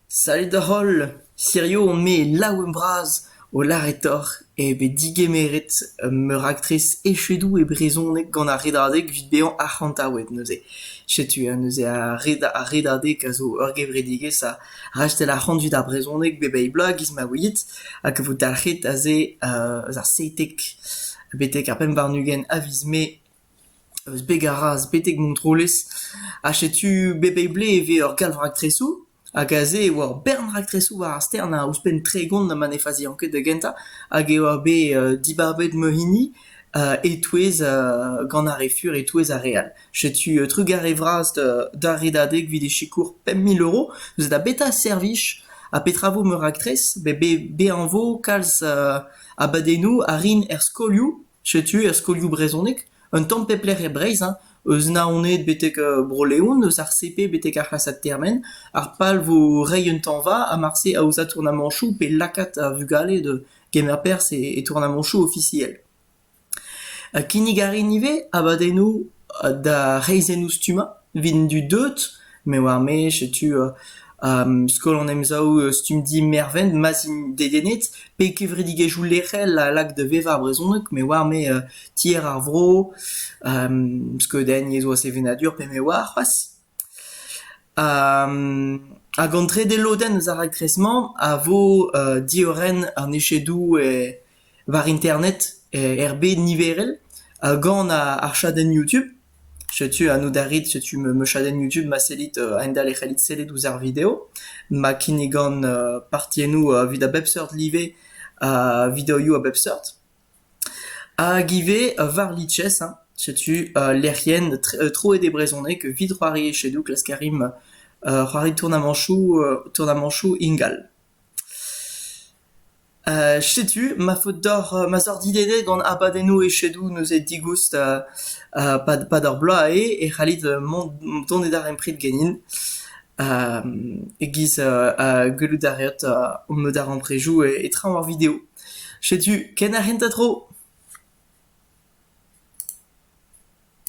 Sallit holl, hirio on-me laouen bras o lâret deoc'h eo bet digemeret meur a aktres echedoù e brezhoneg gant ar redadeg evit bezañ arc'hantaouet neuze. Setu neuze ar redadeg a zo ur gevredigezh a rastell ar c'hant dud ar brezhoneg bep eil bloaz e-giz ma ouiit hag a vo dalc'het aze eus ar seitek betek ar pemp warn-ugent a viz mae. Eus beg ar Raz betek Montroulez ha setu bep eil blez e vez ur galv-raktresoù hag aze e oa ur bern raktresoù war ar stern ha ouzhpenn tregont ma ne fazian ket da gentañ hag e oa bet dibabet ma hini e-touez gant ar re fur e-touez ar re all. Setu trugarez vras d'ar Redadeg evit e sikour pemp mil euro neuze da betra servij ha petra vo ma raktres bet bezañ vo kalz abadennoù a rin er skolioù Setu er skolioù brezhonek un tamm pep lec'h e Breizh hein, eus Naoned betek Bro-Leon, eus ar CP betek ar c'hlasad termen, ar pal vo reiñ un tañva ha marse aozañ tournamañchoù pe lakaat ar vugale da kemer perzh e tournamañchoù ofisiel. Kinnig a rin ivez abadennoù D'ar reizhennoù-stummañ evit an dud deuet me oar-me setu skol an emsav stumdi Mervent ma'z int dedennet pe kevredigezhioù lec'hel a lak da vevañ ar brezhoneg me oar-me tier ar vro skeudenn yezhoù ha sevenadur pe me oar c'hoazh. Hag an trede lodenn eus ar raktres-mañ a vo diorren an echedoù war internet er bed niverel gant ar chadenn YouTube. Setu anv da rit, setu ma chadenn YouTube ma sellit a-hend-all e c'hellit sellet ouzh ar video. Ma kinnigan partiennoù evit a bep seurt live videoioù a bep seurt. Hag ivez war-lices hein, setu lec'hienn troet e brezhoneg evit c'hoari echedoù klask a rimp c'hoari tournamañchoù tournamañchoù ingal. Setu ma faot deoc'h ma zoc'h dilennet gant abadennoù echedoù neuze digoust pad ar bloaz eo e c'hallit mont dont e darempred ganin e-giz gellout a reot o darempredoù e traoñ ar video. Setu ken ar c'hentañ tro.